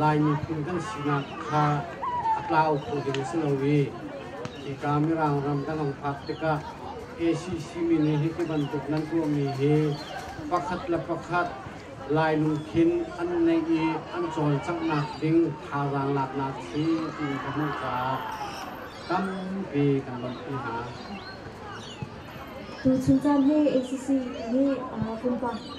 Lai miphun kan sinak kha a tlau kho ding a si lo i hika Mirang ram kan hong phak tikah ACC mi nih hi tibantuk nan tuahmi hi pakhat le pakhat Lainu khin an neih i an cawlcanghnak ding thazaang laknak a si tiin ka hmuh caah tampi kan lawmhpi hna. Tuchun caan hi ACC nih kum pahnih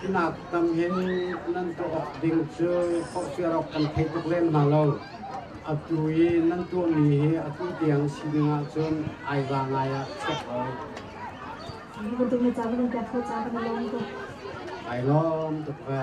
Hinak tang hin nan tuah awk ding cu forhfial awk kan thei tuk lem hna lo. Atu i nan tuahmi hi atu tiang sining ahcun ai va ngai ah chek lai. Bantuk na ca van in ka tho ca kan i lawm tuk. Ai lawm tuk ve.